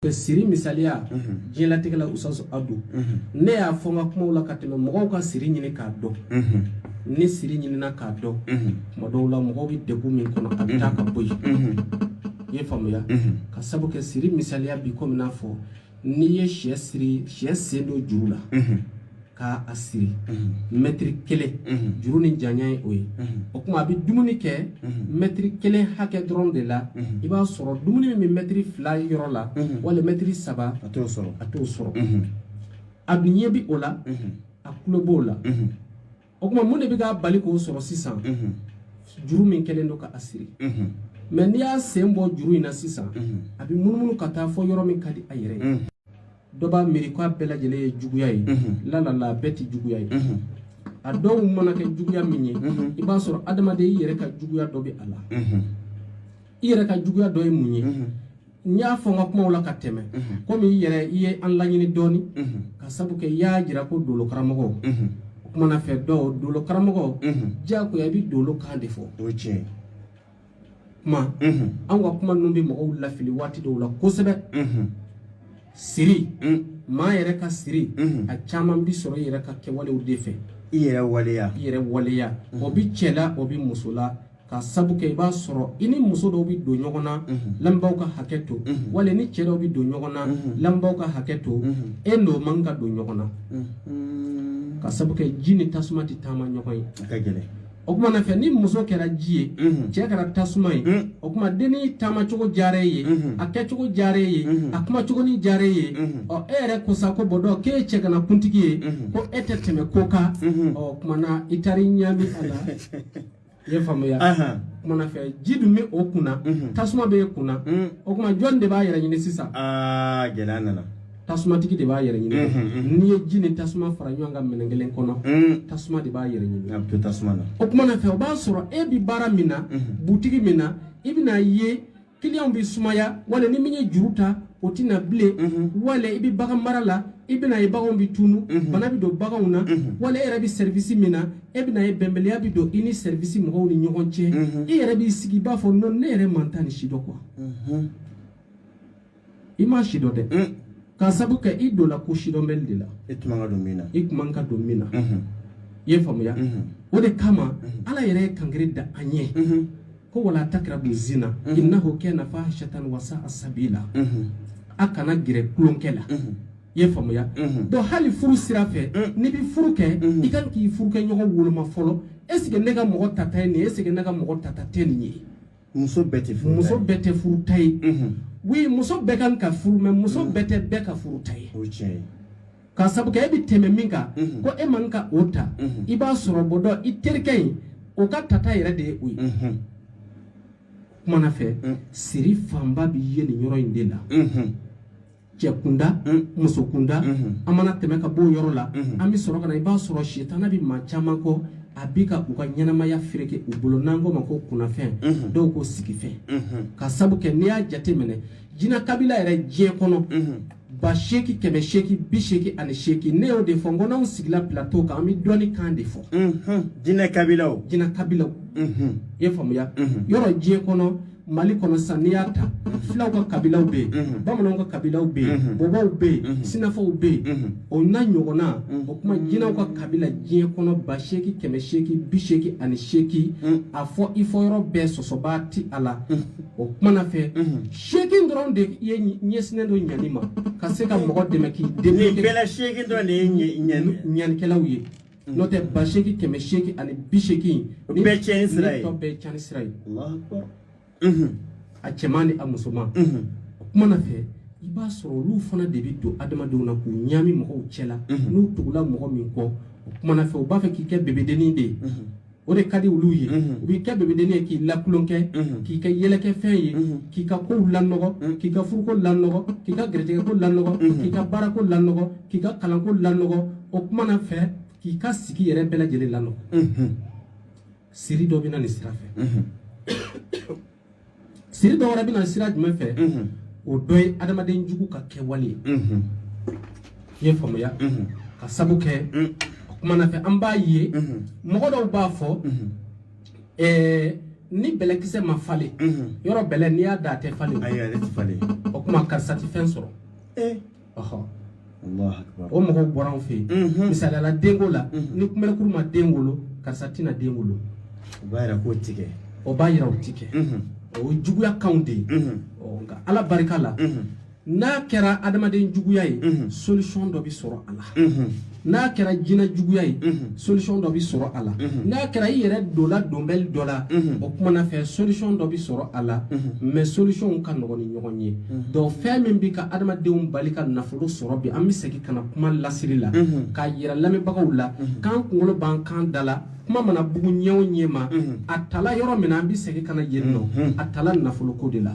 ka siri misaliya diɲɛlatigɛ la usaso adu ne y'a fɔ n ka kumaw la ka tɛmɛ mɔgɔw ka siri ɲini k'a dɔn ni siri ɲinina k'a dɔn tuma dɔw la mɔgɔw bɛ degun min kɔnɔ a bɛ taa ka bɔ yen i ye faamuya ka sabu kɛ siri misaliya bi komi n'a fɔ n'i ye sɛ siri sɛ sen don juru la k'a a siri mɛtiri kelen juru ni janya ye o ye o kuma a bɛ dumuni kɛ mɛtiri kelen hakɛ dɔrɔn de la i b'a sɔrɔ dumuni min bɛ mɛtiri fila yɔrɔ la wali mɛtiri saba a t'o sɔrɔ a t'o sɔrɔ a dun ɲɛ bi o la a tulo b'o la o tuma mun de bɛ k'a bali k'o sɔrɔ sisan juru min kɛlen don k'a siri mɛ n'i y'a sen bɔ juru in na sisan a bɛ munumunu ka taa fɔ yɔrɔ min ka di a yɛrɛ ye dɔ b'a miiri k'a bɛɛ lajɛlen ye juguya ye lalala a bɛɛ tɛ juguya ye a dɔw mana kɛ juguya min ye i b'a sɔrɔ adamaden i yɛrɛ ka juguya dɔ bɛ a la i yɛrɛ ka juguya dɔ ye mun ye n y'a fɔ n ka kumaw la ka tɛmɛ komi i yɛrɛ i ye an laɲini dɔɔni ka sabu kɛ i y'a jira ko dolo karamɔgɔ o kuma na fɛ dɔw dolo karamɔgɔ diyagoya i bɛ dolo kan de fɔ o ye tiɲɛ ye kuma anw ka kuma ninnu bɛ mɔgɔw lafili waati dɔw la kosɛbɛ siri maa yɛrɛ ka siri a caman bi sɔrɔ i yɛrɛ ka kɛwalew de fɛ i yɛrɛ waleya i yɛrɛ waleya o bi cɛ la o bi muso la ka sabu kɛ i b'a sɔrɔ i ni muso dɔw bɛ don ɲɔgɔn na lamɛnbaaw ka hakɛ to wali ni cɛ dɔw bɛ don ɲɔgɔn na lamɛnbaaw ka hakɛ to e n'o man ka don ɲɔgɔn na ka sabu kɛ ji ni tasuma tɛ taama ɲɔgɔn ye a ka gɛlɛn o kuma na fɛ ni muso kɛra ji ye cɛ kɛra tasuma ye o kuma denni taama cogo diyara e ye a kɛcogo diyara e ye a kuma cogo ni diyara e ye ɔ e yɛrɛ ko sa ko bɔ dɔn k'e ye cɛgana kuntigi ye ko e tɛ tɛmɛ ko kan ɔ o kuma na i taara i ɲami a la i ye faamuya kuma na fɛ ji dun bɛ o kunna tasuma bɛ e kunna o kuma jɔn de b'a yɛrɛ ɲini sisan gɛlɛya nana tasumatigi de b'a yɛrɛ ɲini n'i ye ji ni tasuma fara ɲɔgɔn kan minɛn kelen kɔnɔ tasuma de b'a yɛrɛ ɲini a bɛ to tasuma na o kuma na fɛ o b'a sɔrɔ e bɛ baara min na butigi min na i bɛna ye kiliyanw bɛ sumaya wala ni min ye juru ta o tɛ na bilen mhm. wala i bɛ bagan mara la i bɛna ye baganw bɛ tunu mhm. bana bɛ don baganw na mhm. wala e yɛrɛ bɛ sɛrivisi min na e bɛna ye bɛnbaliya bɛ don i ni sɛrivisi mɔgɔw ni ɲɔgɔn cɛ i yɛrɛ b'i sigi i b'a fɔ nɔn ne yɛrɛ ma n ta nin sidɔn quoi i m'a sidɔn dɛ mm. ka sabu kɛ i donna ko sidɔnbali de la i tun man ka don min na i tun man ka don min na mm-hmm. i ye faamuya mm-hmm. o de kama mm-hmm. ala yɛrɛ ye kankari da an ye ko wala takirabu zina innahu kana fahishatan wa sa'a sabila a kana gɛrɛ tulonkɛ la i ye faamuya donc hali furu sira fɛ mm. n'i bɛ furu kɛ i kan k'i furukɛɲɔgɔn woloma fɔlɔ est ce que ne ka mɔgɔ tata ye nin ye est ce que ne ka mɔgɔ tata tɛ nin ye muso bɛɛ tɛ furu muso bɛɛ tɛ furuta ye wi muso bɛɛ kan ka furu mais muso mm. bɛɛ tɛ bɛɛ ka furuta ye ka sabu kɛ e bɛ tɛmɛ min kan mm-hmm. ko e man ka o ta mm-hmm. i b'a sɔrɔ bɔ dɔ i terikɛ in o ka tata yɛrɛ de ye o ye mm-hmm. kumana fɛ mm. siri fanba bɛ ye nin yɔrɔ in de la cɛ kunda muso kunda an mana tɛmɛ ka b'o yɔrɔ la an bɛ sɔrɔ ka na i b'a sɔrɔ sitana bɛ maa caman kɔ a bi ka u ka ɲɛnamaya fereke u bolo n'an k'o ma ko kunnafɛn dɔw ko sigifɛn ka sabu kɛ n'i y'a jate minɛ jina kabila yɛrɛ diɲɛ kɔnɔ ba seegin kɛmɛ seegin bi seegin ani seegin ne y'o de fɔ n ko n'anw sigila plateau kan an bɛ dɔnni kan de fɔ jinɛ kabilaw jinɛ kabilaw i y'a faamuya yɔrɔ diɲɛ kɔnɔ mali kɔnɔ sisan n'i y'a ta filaw ka kabilaw bɛ yen mhm. bamananw ka kabilaw bɛ yen mhm. bɔbɔw bɛ yen mhm. sinafɔw bɛ yen o n'a ɲɔgɔnna o kuma jinɛw ka kabila diɲɛ kɔnɔ ba seegin kɛmɛ seegin bi seegin ani seegin a fɔ i fɔyɔrɔ bɛɛ sɔsɔbaa ti a la o kuma na fɛ seegin dɔrɔn de ye ɲɛsinnen don ɲani ma ka se ka mɔgɔ dɛmɛ k'i dɛmɛ bɛɛ la seegin dɔrɔn de ye ɲanikɛlaw ye Mm. n'o tɛ ba seegin kɛmɛ seegin ani bi seegin ni bɛɛ cɛnni sira ye tɔ bɛɛ cɛnni sira ye mm-hmm. a cɛman ni a musoman mm-hmm. o kuma na fɛ i b'a sɔrɔ olu fana de bɛ don adamadenw na k'u ɲaami mɔgɔw cɛ la mm-hmm. n'u tugula mɔgɔ min kɔ o kuma na fɛ u b'a fɛ k'i kɛ bebedennin de ye o de ka di olu ye u b'i kɛ bebedennin ye k'i lakolon kɛ k'i kɛ yɛlɛkɛfɛn ye k'i ka kow lanɔgɔ k'i ka furuko lanɔgɔ k'i ka garijɛgɛko lanɔgɔ k'i ka baarako lanɔgɔ k'i ka kalanko lanɔgɔ o kuma na fɛ k'i ka sigi yɛrɛ bɛɛ lajɛlen lanɔgɔ siri dɔ bɛ na nin sira fɛ Siri dɔ wɛrɛ bɛ na sira jumɛn fɛ o dɔ ye adamaden jugu ka kɛwale ye i y'a faamuya ka sabu kɛ o kumana fɛ an b'a ye mɔgɔ dɔw b'a fɔ ni bɛlɛkisɛ ma falen yɔrɔ bɛlɛ n'i y'a dan a tɛ falen o kuma karisa tɛ fɛn sɔrɔ o mɔgɔw bɔra anw fɛ yen misaliya la denko la ni kunberekuru ma den wolo karisa tɛna den wolo o b'a yira k'o ti kɛ o b'a yira o ti kɛ o ye juguya kanw de ye nka ala barika la n'a kɛra adamaden juguya ye solution dɔ bɛ sɔrɔ a la n'a kɛra jinɛ juguya ye solution dɔ bɛ sɔrɔ a la n'a kɛra i yɛrɛ donna donbɛli dɔ la o kumana fɛ solution dɔ bɛ sɔrɔ a la mais solution ka nɔgɔn ni ɲɔgɔn ye donc fɛn min bɛ ka adamadenw bali ka nafolo sɔrɔ bi an bɛ segin ka na kuma lasiri la k'a yira lamɛnbagaw la k'an kunkolo b'an kan da la kuma mana bugu ɲɛ o ɲɛ ma a tala yɔrɔ min na an bɛ segin ka na yen nɔ a tala nafoloko de la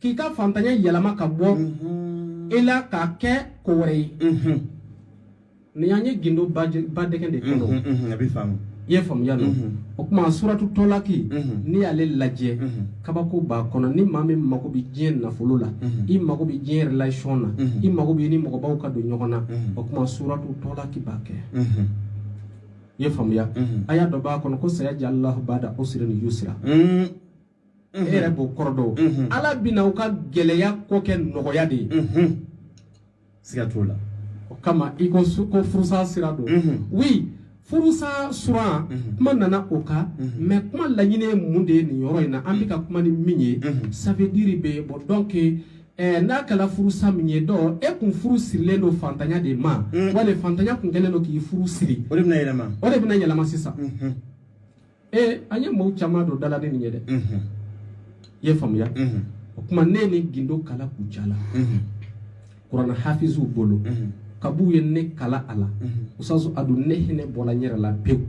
k'i ka fantanya yɛlɛma ka bɔ i la k'a kɛ ko wɛrɛ ye nin y'an ye gindo badɛgɛ de kɔnɔ a bɛ faamu i ye faamuya dɔn o tuma suratu tɔlaki n'i y'ale lajɛ kabako b'a kɔnɔ ni maa min mago bɛ diɲɛ nafolo la i mago bɛ diɲɛ relation na i mago b'i ni mɔgɔbaw ka don ɲɔgɔn na o tuma suratu tɔlaki b'a kɛ i ye faamuya aya dɔ b'a kɔnɔ ko sayajɛ alahu bada usirin yusira e yɛrɛ b'o kɔrɔ dɔn ala bɛna u ka gɛlɛya kɔ kɛ nɔgɔya de ye siga t'o la o kama i ko ko furusa sira don wi furusa suran kuma nana o kama kuma laɲini ye mun de ye nin yɔrɔ in na an bɛ ka kuma ni min ye ça veut dire bɛ bɔ donc Eh, n'a kɛra furusa min ye dɔn e kun furu sirilen don fantanya de ma mm. wali fantanya kun kɛlen don k'i furu siri o de bɛna yɛlɛma o de bɛna yɛlɛma sisan mm-hmm. ee an ye mɔgɔw caman don da la ni nin ye dɛ i ye faamuya o tuma ne ye nin gindo kalan kucala kuranna hafiziw bolo kab'u ye ne kalan a la usutazu adu ne hinɛ bɔra n yɛrɛ la pewu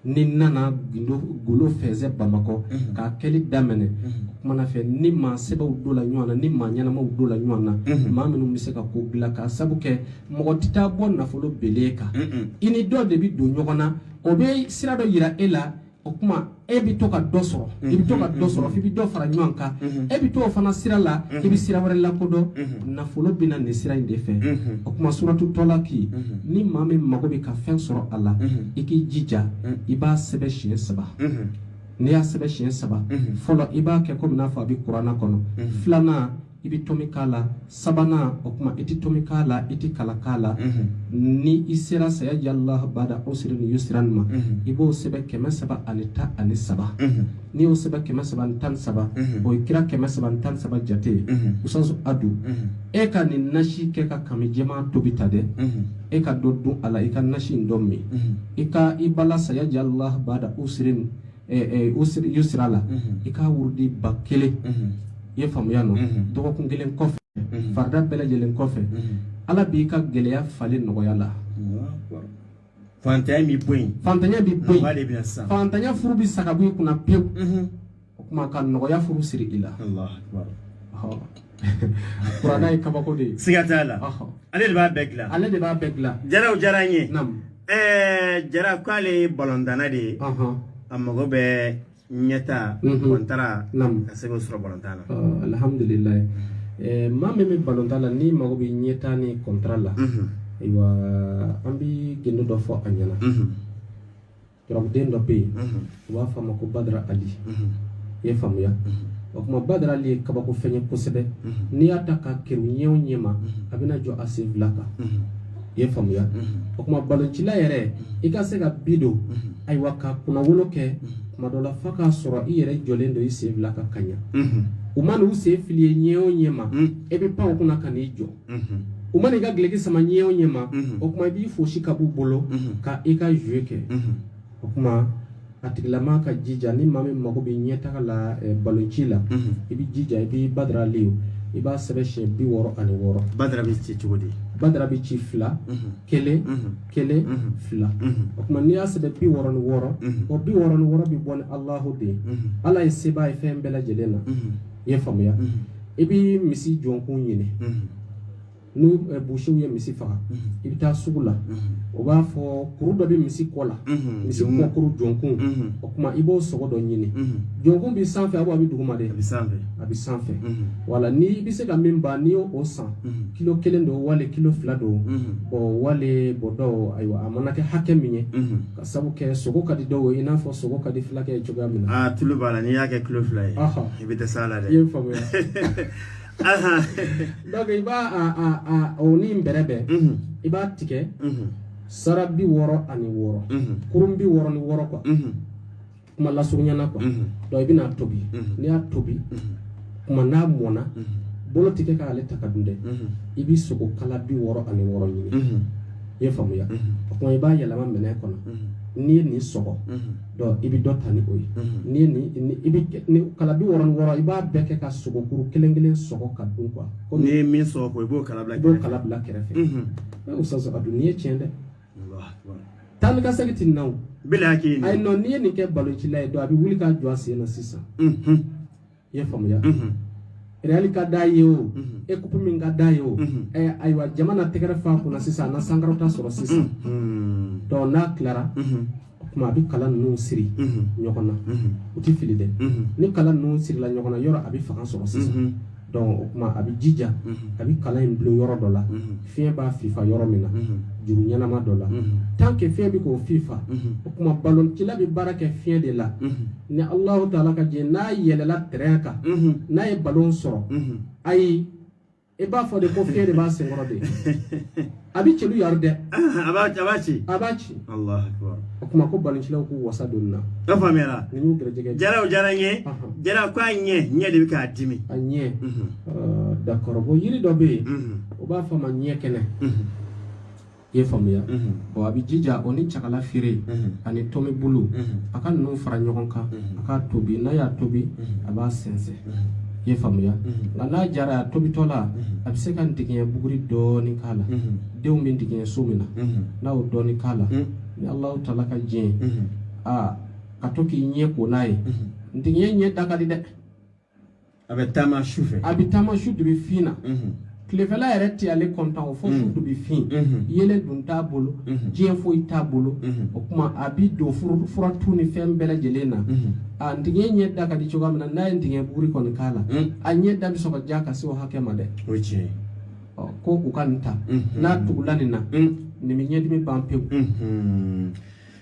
ne nana gindo golo fɛnsɛ bamakɔ k'a kɛli daminɛ o kuma na fɛ ni maa sɛbɛw donna ɲɔgɔn na ni maa ɲɛnamaw donna ɲɔgɔn na maa minnu bɛ se ka ko dilan k'a sabu kɛ mɔgɔ tɛ taa bɔ nafolo bele kan i ni dɔ de bɛ don ɲɔgɔn na o bɛ sira dɔ jira e la o tuma e bɛ to ka dɔ sɔrɔ i bɛ to ka dɔ sɔrɔ i bɛ dɔ fara ɲɔgɔn kan e bɛ to o fana sira la i bɛ sira wɛrɛ lakodɔn nafolo bɛ na nin sira in de fɛ o tuma suratu tɔlaki ni maa min mago bɛ ka fɛn sɔrɔ a la i k'i jija i b'a sɛbɛn siɲɛ saba n'i y'a sɛbɛn siɲɛ saba fɔlɔ i b'a kɛ komi n'a fɔ a bɛ kuranna kɔnɔ filanan i bɛ tomi k'a la sabanan o tuma i tɛ tomi k'a la i tɛ kala k'a la ni i sera sayajɛ ala bada usirin yusira ma i b'o sɛbɛn kɛmɛ saba ani tan ani saba n'i y'o sɛbɛn kɛmɛ saba ani tan ni saba o ye kira kɛmɛ saba ani tan ni saba jate ye usutazu adu e ka nin nasi kɛ ka kami jɛman tobi ta dɛ e ka dɔ dun a la i ka nasi in dɔ min i ka i bala sayajɛ ala bada usirin yusira la i k'a wurudi ba kelen i ye faamuya nɔ dɔgɔkun kelen kɔfɛ farida bɛɛ lajɛlen kɔfɛ ala b'i ka gɛlɛya falen nɔgɔya la fantanya bɛ bɔ yen fantanya bɛ bɔ yen fantanya furu bɛ sa ka bɔ i kunna pewu o kuma ka nɔgɔya furu siri i la kuranɛ ye kabako de ye siga t'a la ale de b'a bɛɛ dilan ale de b'a bɛɛ dilan jaraw diyara n ye ɛɛ jara k'ale ye balɔntanna de ye a mago bɛ ɲɛtaa kɔntara ka se k'o sɔrɔ balɔntan na alihamudulilayi maa min bɛ balɔntan la n'i mago bɛ ɲɛtaa ni kɔntara la ayiwa an bɛ gindo dɔ fɔ a ɲɛ na Turabuden dɔ bɛ yen u b'a fɔ a ma ko badara ali i ye faamuya o tuma badara ali ye kabako fɛn ye kosɛbɛ n'i y'a ta k'a kerun ɲɛ o ɲɛ ma a bɛna jɔ a sen fila kan i ye faamuya o tuma baloncila yɛrɛ i ka se ka bi don ayiwa ka kunnawolo kɛ tuma dɔ la fa k'a sɔrɔ i yɛrɛ jɔlen don i sen fila kan ka ɲa u ma n'u sen fili ye ɲɛ o ɲɛ ma e bɛ pan u kunna ka n'i jɔ u mana i ka duloki sama ɲɛ o ɲɛ ma o kuma i b'i fosi ka b'u bolo ka i ka jouer kɛ o kuma a tigilama ka jija ni maa min mago bɛ ɲɛtaga la eh, balonci la i bɛ jija i b'i badara ali o i b'a sɛbɛn siɲɛ bi wɔɔrɔ ani wɔɔrɔ badara bɛ ci cogo di badara bɛ ci fila kelen kelen fila o tuma n'i y'a sɛbɛn bi wɔɔrɔ ni wɔɔrɔ o bi wɔɔrɔ ni wɔɔrɔ bɛ bɔ ni alahu de ye ala ye sebaa ye fɛn bɛɛ lajɛlen na i ye faamuya i bɛ misi jɔnkun ɲini ni busiw ye misi faga i bɛ taa sugu la o b'a fɔ kuru dɔ bɛ misi kɔ la misi kɔkuru jɔnkun o tuma i b'o sogo dɔ ɲini jɔnkun bɛ sanfɛ a bɛ duguma de a bɛ sanfɛ a bɛ sanfɛ wala ni i bɛ se ka min ban n'i y'o san kilo kelen don wali kilo fila don wali bɔ dɔw ayiwa a mana kɛ hakɛ min ye ka sabu kɛ sogo ka di dɔw ye i n'a fɔ sogo ka di fulakɛ ye cogoya min na aa tulu b'a la n'i y'a kɛ kilo fila ye i bɛ dɛsɛ a la dɛ i ye n faamuya donc i b'a a a a o ni bɛrɛ bɛn i b'a tigɛ sara bi wɔɔrɔ ani wɔɔrɔ kurun bi wɔɔrɔ ni wɔɔrɔ quoi kuma lasurunyana quoi unhun donc i bɛna a tobi Mhm. n'i y'a tobi unhun kuma n'a mɔna unhun bolo tɛ kɛ k'ale ta ka dun dɛ unhun i bɛ sogo kala bi wɔɔrɔ ani wɔɔrɔ ɲini unhun i ye faamuya unhun o kuma i b'a yɛlɛma minɛn kɔnɔ unhun n'i ye nin sɔgɔ unhun donc i bɛ dɔ ta ni o ye unhun n'i ye nin ni i bɛ kɛ- ni kala bi wɔɔrɔ ni wɔɔrɔ i b'a bɛɛ kɛ ka sogo kuru kelen kelen sɔgɔ ka dun quoi n'i komi ye min sɔrɔ ko i b'o kala bila i b'o kɛrɛfɛ kala bila kɛrɛfɛ unhun e y'o sɔgɔ ka dun n'i ye tiɲɛ dɛ Taa ni ka segin tɛ na ayi non n'i ye nin kɛ baloncila ye don a bɛ wuli k'a jɔ a sen na sisan i ye faamuya reyali ka da ye o équipe min ka da ye o ayiwa jama na tɛgɛrɛ f'a kunna sisan a na sankɔrɔta sɔrɔ sisan donc n'a tilara o tuma a bɛ kala ninnu siri ɲɔgɔn na u tɛ fili dɛ ni kala ninnu sirila ɲɔgɔn na yɔrɔ a bɛ fanga sɔrɔ sisan donc o tuma a bɛ jija a bɛ kala in dulon yɔrɔ dɔ la fiɲɛ b'a fifa yɔrɔ min na juru ɲɛnama dɔ la tan kɛ fiɲɛ bɛ k'o fifa o tuma baloncila bɛ baara kɛ fiɲɛ de la ni alahu taala ka jɛ n'a yɛlɛla tɛrɛn kan n'a ye balon sɔrɔ ayi i b'a fɔ de ko fiɲɛ de b'a sen kɔrɔ de a bɛ celu yari dɛ a b'a ci a b'a ci o tuma ko baloncilaw k'u wasa don na a faamuyara nin y'u gɛrɛjɛgɛ jara o jara n ye jara ko a ɲɛ ɲɛ de bɛ k'a dimi a ɲɛ d'accord bon yiri dɔ bɛ yen o b'a fɔ a ma ɲɛ kɛnɛ i ye faamuya bon a bɛ jija o ni cakala feere ani tɔmi bulu a ka ninnu fara ɲɔgɔn kan a k'a tobi n'a y'a tobi a b'a sɛnsɛn i ye faamuya nka n'a diyara a ye tobitɔ la a bɛ se ka ntigiɲɛ buguri dɔɔni k'a la denw bɛ ntigiɲɛ so min na n'a y'o dɔɔni k'a la ni alahu taala ka diɲɛ a ka to k'i ɲɛ ko n'a ye ntigiɲɛ ɲɛ da ka di dɛ a bɛ taama su fɛ a bɛ taama su dubi fin na tilefɛla yɛrɛ tɛ ale kɔntan o fo su dubi fin yeelen dun t'a bolo diɲɛ foyi t'a bolo o kuma a b'i don fura tu ni fɛn bɛɛ lajɛlen na a ntigiɲɛ ɲɛ da ka di cogoya min na n'a ye ntigiɲɛ buguri kɔni k'a la a ɲɛ da bɛ sɔn ka diya ka se o hakɛ ma dɛ o ye tiɲɛ ye ko u ka nin ta n'a tugula nin na nin bɛ ɲɛdimi ban pewu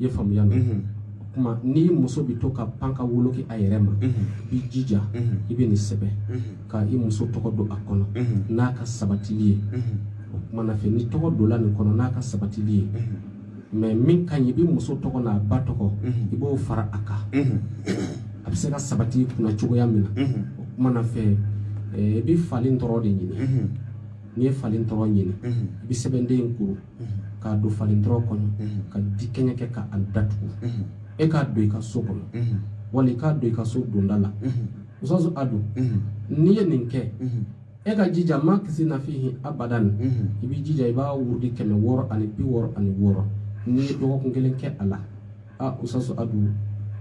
i ye faamuya mɛn mhm. o tuma ni muso bɛ to ka pan ka wolo kɛ a yɛrɛ ma mhm. i b'i jija mhm. i bɛ nin sɛbɛn ka i muso tɔgɔ don a kɔnɔ n'a ka sabatili ye o tuma na fɛ ni tɔgɔ donla nin kɔnɔ n'a ka sabatili ye mais min ka ɲi i bɛ muso tɔgɔ n'a ba tɔgɔ i b'o fara a kan a bɛ se ka sabati kunna cogoya min na o tuma na fɛ eh, i bɛ fali ntɔrɔn de ɲini n'i ye fali ntɔrɔn ɲini i bɛ sɛbɛnden in kuru k'a don fali ntɔrɔn kɔnɔ ka dikɛɲɛ kɛ ka a datugu e k'a don i ka so kɔnɔ wali k'a don i ka so donda la usaso a don n'i ye nin kɛ e ka jija makisina fihi abadan i b'i jija i b'a wurudi kɛmɛ wɔɔrɔ ani bi wɔɔrɔ ani wɔɔrɔ n'i ye dɔgɔkun kelen kɛ a la a usaso a don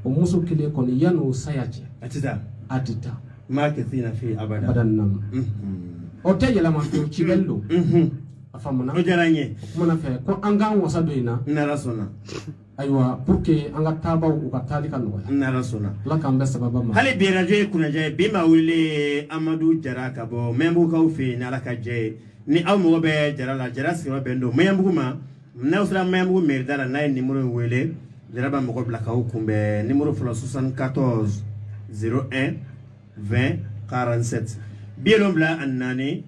o muso kelen kɔni yan n'o saya cɛ a tɛ taa a tɛ taa makisina fihi abadan abadan namu o tɛ yɛlɛma fiyewu cibɛli don a faamuna o diyara n ye o kuma na fɛ ko an k'an wasa don in na n'ala sɔnna ayiwa pour que an ka taabaw u ka taali ka nɔgɔya n'ala sɔnna ala k'an bɛɛ sababa ma hali bi radio ye kunajɛ ye bi maa wele ye amadu jara ka bɔ maɲanbugukaw fɛ yen n'ala ka jɛ ye ni aw mago bɛ jara la jara sigiyɔrɔ bɛn don maɲanbugu ma n'aw sera maɲanbugu mɛri da la n'a ye nimoro in wele jara b'a mɔgɔ bila k'aw kunbɛn nimoro fɔlɔ 74 01 20 47 bi wolonwula ani naani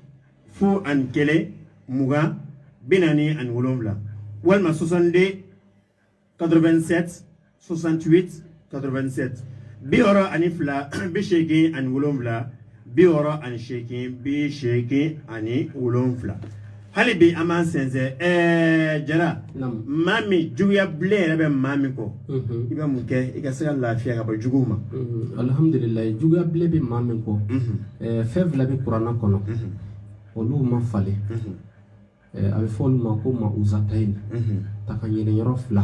fu ani kelen mugan bi naani ani wolonwula walima 62 87 68 87 bi wɔɔrɔ ani fila bi seegin ani wolonwula bi wɔɔrɔ ani seegin bi seegin ani wolonwula hali bi an b'an sɛnsɛn ɛɛ jara maa min juguya bilalen yɛrɛ bɛ maa min kɔ i bɛ mun kɛ i ka se ka lafiya ka bɔ juguw ma alihamudulila juguya bilalen bɛ maa min kɔ fɛn fila bɛ kurana kɔnɔ olu ma falen a bɛ fɔ olu ma ko ma uzatayi tanga ɲini yɔrɔ fila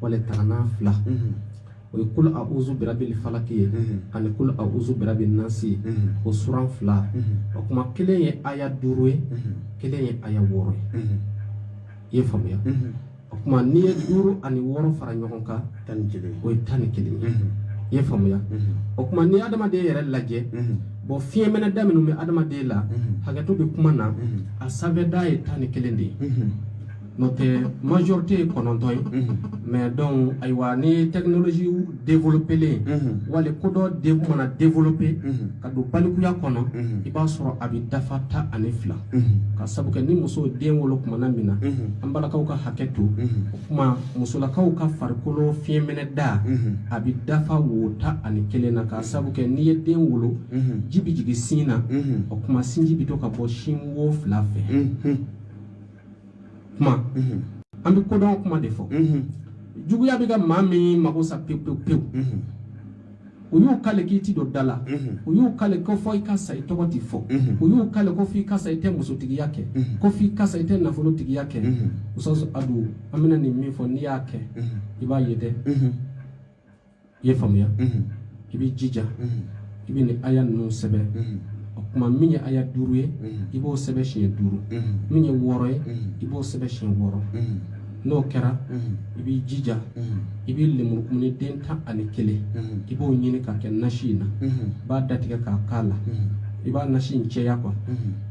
wala tangalan fila o ye kulu a uzu birabil falaki ye ani kulu a uzu birabil nasi ye o suran fila o kuma kelen ye aya duuru ye kelen ye aya wɔɔrɔ ye i ye faamuya o kuma n'i ye duuru ani wɔɔrɔ fara ɲɔgɔn kan tan ni kelen o ye tan ni kelen ye i ye faamuya o kuma n'i ye adamaden yɛrɛ lajɛ bon fiɲɛminɛ da minnu bɛ adamaden la hakɛto bɛ kuma na a sanfɛda ye tan ni kelen de ye n'o tɛ majorité ye kɔnɔntɔn ye mais donc ayiwa n'i ye technologie développer wali kodɔn de mana développer ka don balikuya kɔnɔ i b'a sɔrɔ a bɛ dafa tan ani fila k'a sabu kɛ ni muso den wolo kuma na min na an balakaw ka hakɛ to o kuma musolakaw ka farikolo fiɲɛminɛ da a bɛ dafa wo tan ani kelen na k'a sabu kɛ n'i ye den wolo ji bɛ jigin sin na o kuma sinji bɛ to ka bɔ sin wo fila fɛ kuma an bɛ kodɔn kuma de fɔ juguya bɛ ka maa min mago sa pewu pewu pewu u y'u kale k'i ti don da la u y'u kale ko fo i ka sa i tɔgɔ ti fɔ u y'u kale ko fo i ka sa i tɛ musotigiya kɛ ko fo i ka sa i tɛ nafolotigiya kɛ muso adu an bɛna nin min fɔ n'i y'a kɛ i b'a ye dɛ i ye faamuya i b'i jija i bɛ nin aya ninnu sɛbɛn o kuma min ye aya duuru ye i b'o sɛbɛn siɲɛ duuru min ye wɔɔrɔ ye i b'o sɛbɛn siɲɛ wɔɔrɔ n'o kɛra i b'i jija i bɛ lemurukumuni den tan ani kelen i b'o ɲini k'a kɛ nasi in na i b'a datigɛ k'a k'a la i b'a nasi in cɛya quoi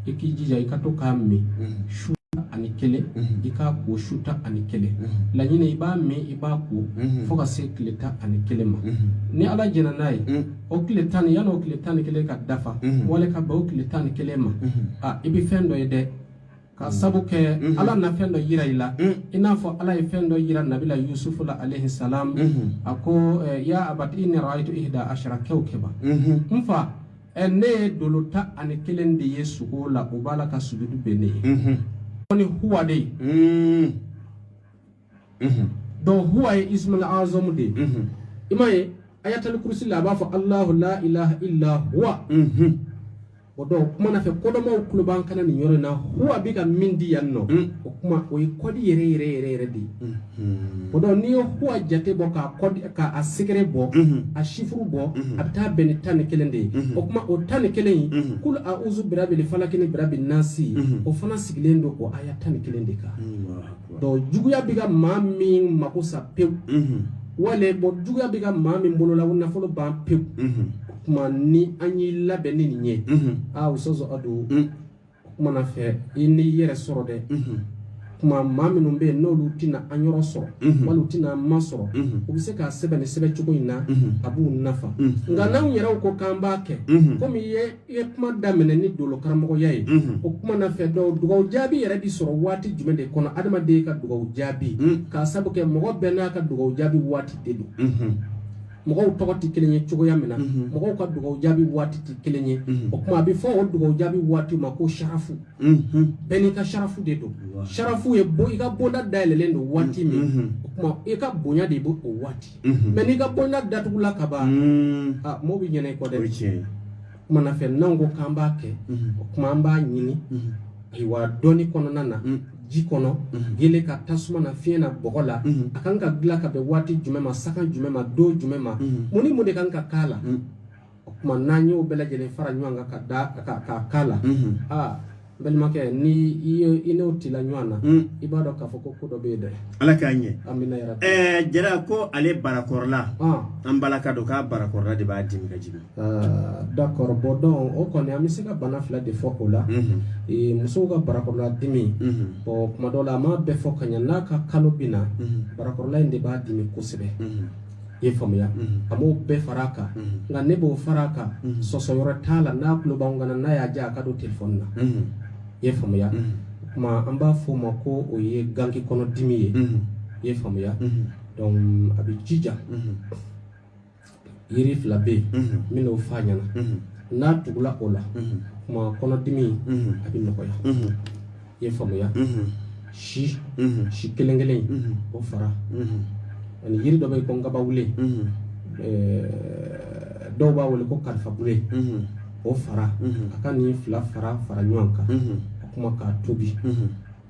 i k'i jija i ka to k'a min su tan ani kelen i k'a ko su tan ani kelen laɲini i b'a min i b'a ko fo ka se tile tan ani kelen ma ni ala jɛnna n'a ye o tile tan ni yanni o tile tan ni kelen ka dafa wale ka bɛn o tile tan ni kelen ma a i bɛ fɛn dɔ ye dɛ ka mm. sabu kɛ mm-hmm. ala na fɛn dɔ yira i la mm. i n'a fɔ ala ye fɛn dɔ yira nabila yusufu la alayhi salam mm-hmm. a ko eh, ya abati inni ra'aytu ihda ashara kawkaba mm-hmm. n fa ɛ ne ye dolo tan ani kelen de ye sugo la o b'a la ka sujudu bɛn ne ye ni huwa de ye donc huwa ye ismul azamu de ye i m'a ye ayatal kursi la a b'a fɔ alahu la ilaha illa huwa o dɔw kuma na fɛ kodɔnbaw tulo b'an kan na nin yɔrɔ in na huwa bɛ ka min di yan nɔ o kuma o ye kɔdi yɛrɛ yɛrɛ yɛrɛ yɛrɛ de ye o donc n'i ye huwa jate bɔ k'a sɛgɛrɛ bɔ a sifuru bɔ a bɛ taa bɛn ni tan ni kelen de ye o tuma o tan ni kelen in kulu awuzu birabili falaki ni birabi nasi o fana sigilen don o aya tan ni kelen de kan donc juguya bɛ ka maa min mako sa pewu wala bɔn juguya bɛ ka maa min bolola u nafolo ban pewu tuma ni an y'i labɛn ni nin ye aa sɔsɔ a don kuma na fɛ i n'i yɛrɛ sɔrɔ dɛ kuma maa minnu bɛ yen n'olu tɛna an yɔrɔ sɔrɔ wali u tɛna an ma sɔrɔ u bɛ se k'a sɛbɛn ni sɛbɛn cogo in na a b'u nafa nka n'anw yɛrɛw ko k'an b'a kɛ komi i ye i ye kuma daminɛ ni dolo karamɔgɔya ye o kuma na fɛ donc dugawu jaabi yɛrɛ bi sɔrɔ waati jumɛn de kɔnɔ adamaden ka dugawu jaabi k'a sabu kɛ mɔgɔ bɛɛ n'a ka dugawu jaabi waati de don mɔgɔw tɔgɔ tɛ kelen ye cogoya min na mhm. mɔgɔw ka dugaw jaabi waati tɛ kelen ye mhm. o tuma a bɛ fɔ o dugaw jaabi waati ma ko sarafu mhm. bɛɛ n'i ka sarafu de don sarafu ye bon i ka bonda dayɛlɛlen don waati min o tuma i ka bonya de b'o o waati mɛ n'i ka bonda datugula ka ban mɔgɔw bɛ ɲina i kɔ dɛ Kuma na fɛ n'an ko k'an b'a kɛ o kuma an b'a ɲini ayiwa dɔnni kɔnɔna na ji kɔnɔ gele ka tasuma na fiɲɛ na bɔgɔ la a kan ka dilan ka bɛn waati jumɛn ma sanga jumɛn ma don jumɛn ma mun ni mun de kan ka k'a la o tuma n'an y'o bɛɛ lajɛlen fara ɲɔgɔn kan ka da ka k'a la aa n balimakɛ ni i ye i n'o tila ɲɔgɔn na hmm. i b'a dɔn k'a fɔ ko ko dɔ bɛ yen dɛ ala k'a ɲɛ amina yɛrɛ ɛɛ eh, jara ko ale barakɔrɔla ah. an balaka don k'a barakɔrɔla de b'a dimi ka jigin ah, d'accord bɔn donc o kɔni an bɛ se ka bana fila de fɔ o la mhm. eh, musow ka barakɔrɔla dimi mhm. bɔn kuma dɔw la a m'a bɛɛ fɔ ka ɲɛ n'a ka kalo bɛ na mhm. barakɔrɔla in de b'a dimi kosɛbɛ i ye faamuya a m'o bɛɛ fara a kan nka ne b'o fara a kan sɔsɔ yɔrɔ t'a la n'a tulo b'anw kan na n'a y'a diya a ka don telefɔni na i ye faamuya o tuma an b'a fɔ o ma ko o ye gankekɔnɔdimi ye i ye faamuya donc a bɛ jija yiri fila bɛ yen n bɛna o f'a ɲɛna n'a tugula o la o tuma kɔnɔdimi a bɛ nɔgɔya i ye faamuya si si kelen kelen o fara ani yiri dɔ bɛ yen ko nkabawule dɔw b'a wele ko kalifabule o fara a ka nin fila fara fara ɲɔgɔn kan a kuma k'a tobi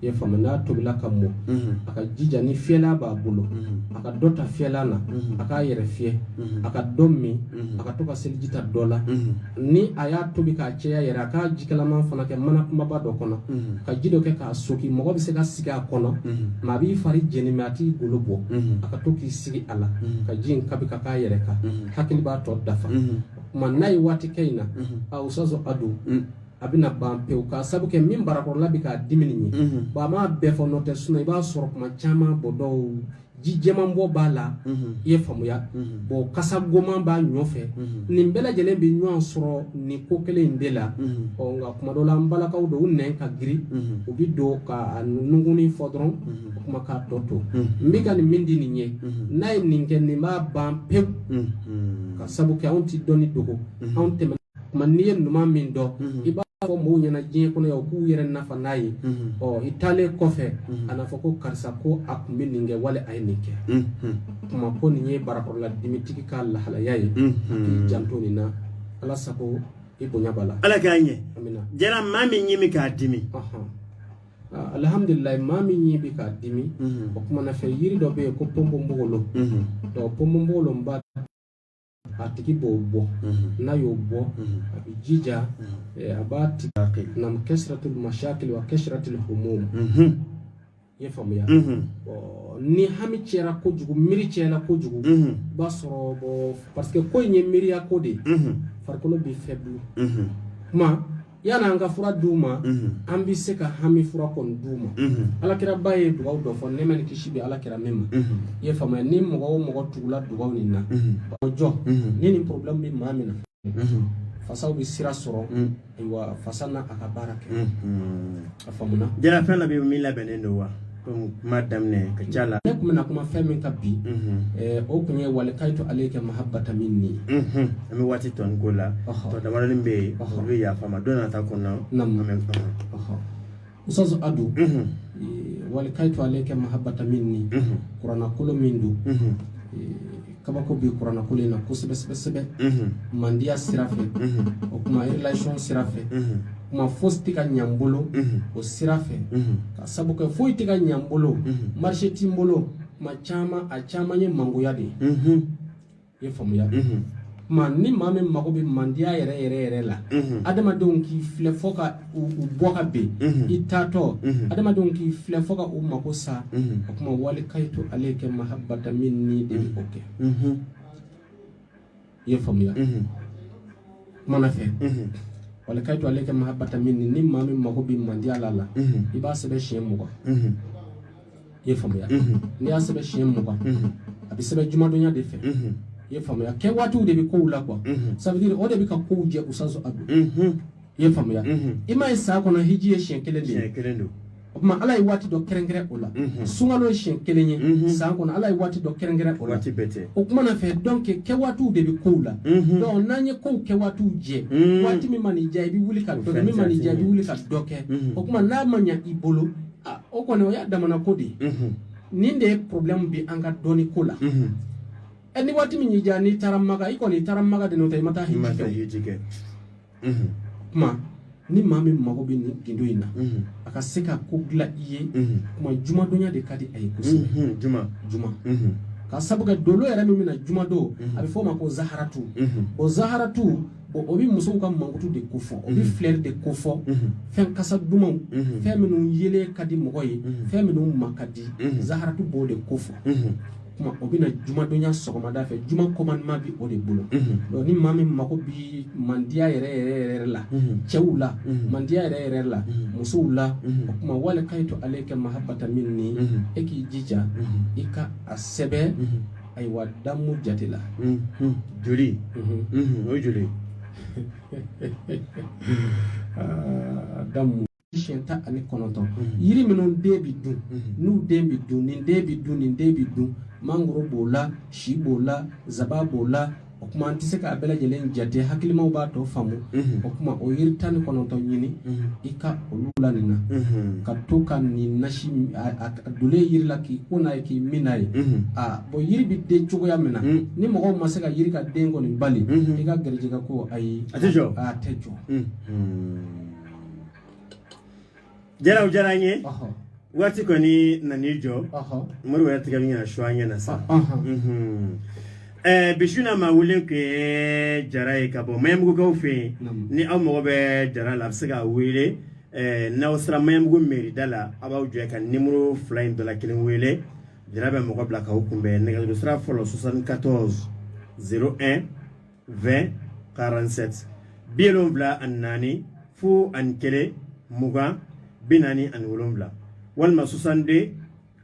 i ye faamuya n'a tobila ka mɔ a ka jija ni fiyɛlan b'a bolo a ka dɔ ta fiyɛlan na a k'a yɛrɛ fiyɛ a ka dɔ min a ka to ka seliji ta dɔ la ni a y'a tobi k'a caya yɛrɛ a k'a jikalaman fana kɛ mana kumaba dɔ kɔnɔ ka ji dɔ kɛ k'a soki mɔgɔ bɛ se ka sigi a kɔnɔ mɛ a b'i fari jeni mɛ a t'i golo bɔ a ka to k'i sigi a la ka ji in kabi ka k'a yɛrɛ kan hakili b'a tɔ dafa tuma n'a ye waati kɛ nin na a usazɔ a don a bɛna ban pewu k'a sabu kɛ min barakɔrɔla bɛ k'a dimi nin ye bon a m'a bɛɛ fɔ n'o tɛ sinon i b'a sɔrɔ kuma caman bɔ dɔw ji jɛman bɔ b'a la i ye faamuya bon kasa goman b'a ɲɔ fɛ nin bɛɛ lajɛlen bɛ ɲɔgɔn sɔrɔ nin ko kelen in de la ɔ nka kuma dɔ la an balakaw don u nɛn ka girin u bɛ don ka a nungunni fɔ dɔrɔn o kuma k'a tɔ to n bɛ ka nin min di nin ye n'a ye nin kɛ nin b'a ban pewu k'a sabu kɛ anw tɛ dɔnni dogo anw tɛmɛna tuma n'i ye ɲuman min dɔn i b'a fɔ mɔgɔw ɲɛna diɲɛ kɔnɔ yan u k'u yɛrɛ nafa n'a ye ɔ i taalen kɔfɛ a n'a fɔ ko karisa ko a tun bɛ nin kɛ wali a ye nin kɛ kuma ko nin ye barakɔrɔla dimitigi ka lahalaya ye k'i janto nin na ala sago i bonya b'a la ala k'a ɲɛ jara maa min ɲɛ bɛ k'a dimi Ah, alhamdulillah maa min ɲɛ bɛ k'a dimi mhm. o kuma na fɛ yiri dɔ bɛ yen ko ponponpogolo mhm. donc ponponpogolo n b'a a tigi b'o bɔ n'a y'o bɔ a bɛ jija a b'a tigi na kɛsiratul mashakil wa kɛsiratul humum i ye faamuya ni hami cɛra kojugu miiri cɛla kojugu i b'a sɔrɔ bon parce que ko in ye miiriya ko de ye farikolo bɛ faible kuma yan an ka fura d'u ma an bɛ se ka hami fura kɔni d'u ma ala kiraba ye dugawu dɔ fɔ nɛɛma ni kisi bɛ ala kira min ma i ye faamuya ni mɔgɔ o mɔgɔ tugula dugawu nin na o jɔ ni ni problème bɛ maa min na fasaw bɛ sira sɔrɔ ayiwa fasa n'a ka baara kɛ a fa jɛnɛfɛn labɛn bɛ min labɛnnen don wa kuma daminɛ ka ca la ne tun bɛna kuma fɛn min kan bi eh, o tun ye walikayitu aleyika mahabata minni an bɛ waati tɔ ko la tɔ damadɔni bɛ yen olu bɛ yafa ma don nata kɔnɔ an bɛ faamu usazu adu walikayitu aleyika mahabata minni kuranakolo min don eh, kabako bɛ kuranakolo in na kosɛbɛ sɛbɛ mandiya sira fɛ o kuma relation sira fɛ kuma fosi tɛ ka ɲɛ n bolo o sira fɛ k'a sabu kɛ foyi tɛ ka ɲɛ n bolo marché tɛ n bolo kuma caman a caman ye mangoya de ye i ye faamuya kuma ni maa min mago bɛ mandiya yɛrɛ yɛrɛ yɛrɛ la adamadenw k'i filɛ fo ka u bɔ ka bɛn i taatɔ adamadenw k'i filɛ fo ka u mako sa o tuma walikayitu aleyika mahabata minni de b'o kɛ i ye faamuya kuma na fɛ walikayitu aleyika mahabata minni ni maa min mako bɛ mandiya la i b'a sɛbɛn siɲɛ mugan i ye faamuya n'i y'a sɛbɛn siɲɛ mugan a bɛ sɛbɛn jumadonya de fɛ i ye faamuya kɛwaatiw de bɛ kow la kuma c'est-à-dire o de bɛ ka kow jɛ u sanso a don i ye faamuya i ma ye san kɔnɔ hiji ye siɲɛ kelen de ye o tuma ala ye waati dɔ kɛrɛnkɛrɛn o la sunkalo ye siɲɛ kelen ye san kɔnɔ ala ye waati dɔ kɛrɛnkɛrɛn o la o kuma na fɛ donc kɛ waatiw de bɛ kow la donc n'an ye kow kɛ waatiw jɛ waati min man'i diya i bɛ wuli ka dɔ kɛ min man'i diya i bɛ wuli ka dɔ kɛ o tuma n'a ma ɲa i bolo o kɔni o y'a damana ko de ye nin de ye problème bɛ an ka dɔnni ko la ɛ ni waati min y'i diya n'i taara maka i kɔni i taara maka de n'o tɛ i ma taa hiji kɛ kuma ni maa min mago bɛ nin gindo in na a ka se ka ko dilan i ye kuma jumadonya de ka di a ye kosɛbɛ juma juma k'a sabu kɛ dolo yɛrɛ min bɛ na jumadon a bɛ fɔ o ma ko zaharatu o zaharatu o bɛ musow ka mankutu de kofɔ o bɛ filɛri de kofɔ fɛn kasa dumanw fɛn minnu yelen ka di mɔgɔ ye fɛn minnu ma ka di zaharatu b'o de kofɔ kuma o bɛ na jumadonya sɔgɔmada fɛ juma commandement bi o de bolo donc ni maa min mago bi mandiya yɛrɛ yɛrɛ yɛrɛ la cɛw la mandiya yɛrɛ yɛrɛ la musow la o kuma walikayitu aleka mahabata minni e k'i jija i ka a sɛbɛn ayiwa damu jate la joli o joli damu siɲɛ tan ani kɔnɔntɔn yiri minnu den bɛ dun n'u den bɛ dun nin den bɛ dun nin den bɛ dun mangoro b'o la si b'o la zaban b'o la o kuma an tɛ se k'a bɛɛ lajɛlen jate hakilimaw b'a tɔ faamu o kuma o yiri tan ni kɔnɔntɔn ɲini i ka olu la nin na ka to ka nin nasi a dole yiri la k'i ko n'a ye k'i min n'a ye aa bon yiri bɛ den cogoya min na ni mɔgɔw ma se ka yiri ka den kɔni bali i ka garijɛgɛ ko ayi a tɛ jɔ a tɛ jɔ jaraw diyara an ye waati kɔni nan'i jɔ mori wɛrɛ tigɛ min ka su an ɲɛ na sa eh, bi su na maa welelen tun ye jara ye ka bɔ maɲanbugukaw fɛ yen ni aw mago bɛ jara la a bɛ se k'a wele eh, n'aw sera maɲanbugu meri da la aw b'aw jɔ ka nimoro fila in dɔ la kelen wele jara bɛ mɔgɔ bila k'aw kunbɛn nɛgɛjuru sira fɔlɔ 74 01 20 47 bi wolonwula ani naani fo ani kelen mugan bi naani ani wolonwula walima 62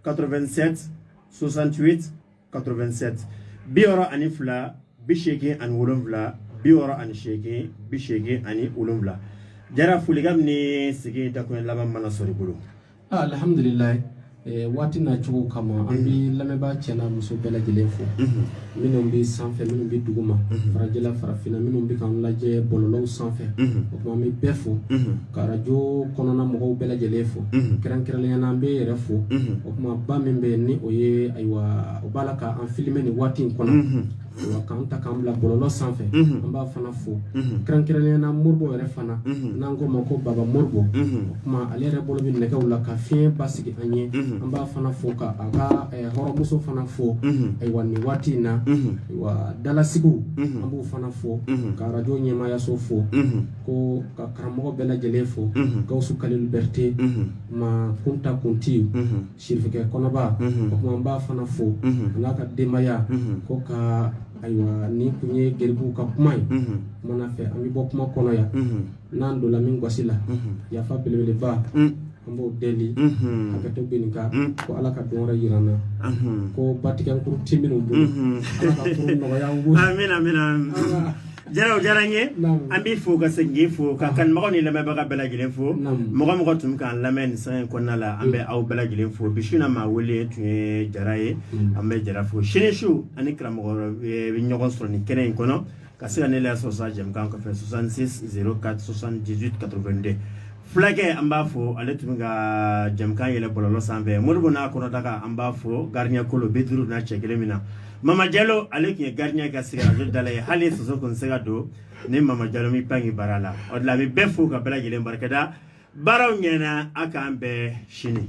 87 68 87 bi wɔɔrɔ ani fila bi seegin ani wolonwula bi wɔɔrɔ ani seegin bi seegin ani wolonwula jara folikan ni sigi da kuma laban mana sɔrɔ i bolo alihamdulilayi eh, waati na cogo kama an bɛ mhm. lamɛnbaa cɛ n'a muso bɛɛ lajɛlen fo mhm. minnu bɛ sanfɛ minnu bɛ duguma mhm. farajɛla farafinna minnu bɛ k'an lajɛ bɔlɔlɔw sanfɛ o tuma an bɛ bɛɛ fo ka arajo kɔnɔna mɔgɔw bɛɛ lajɛlen fo kɛrɛnkɛrɛnnenya na an bɛ yɛrɛ fo o tuma ba min bɛ yen ni o ye ayiwa o b'a la ka an filime nin waati in kɔnɔ k'an ta k'an bila bɔlɔlɔ sanfɛ an b'a fana fo kɛrɛnkɛrɛnnenya na moribo yɛrɛ fana n'an k'o ma ko baba moribo o kuma ale yɛrɛ bolo bɛ nɛgɛw la ka fiɲɛ basigi an ye an b'a fana fo ka a ka hɔrɔnmuso fana fo ayiwa nin waati in na ayiwa dalasigiw an b'u fana fo ka radio ɲɛmaayaso fo ko ka karamɔgɔ bɛɛ lajɛlen fo gawusu kalilu bɛrite ma kunta kunti sirifikɛ kɔnɔba o tuma an b'a fana fo an'a ka denbaya ko ka ayiwa nin tun ye garibuw ka kuma ye kumana fɛ an bɛ bɔ kuma kɔnɔ yan n'an donna min gasi la yafa belebeleba an b'o deli a ka to bin ka ko ala ka don wɛrɛ jira an na ko batigɛkurun ti minnu bolo ala ka furu nɔgɔya an bolo amina amina jara o diyara n ye an b'i fo ka segin k'i fo ka kanubagaw ni lamɛnbaga bɛɛ lajɛlen fo mɔgɔ o mɔgɔ tun k'an lamɛn nin san in kɔnɔna la an bɛ aw bɛɛ lajɛlen fo bi su na maa wele tun ye jara ye an bɛ jara fo sini su aw ni karamɔgɔ bɛ ɲɔgɔn sɔrɔ nin kɛnɛ in kɔnɔ ka se ka ne lasɔrɔ sa jɛmukan kɔfɛ 66 04 78 82 fulakɛ an b'a fo ale tun bɛ ka jɛmukan yɛlɛ bɔlɔlɔ sanfɛ moribo n'a kɔnɔdaga an b'a fo gardien kolo bi duuru na cɛ kelen min na Mama Jalo ale tun ye gardien ka sigi radio da la yen hali soso tun tɛ se ka don ni Mama Jalo m'i pan k'i bara la o de la n bɛ bɛɛ fo ka bɛɛ lajɛlen barikada baaraw ɲɛna a k'an bɛn sini.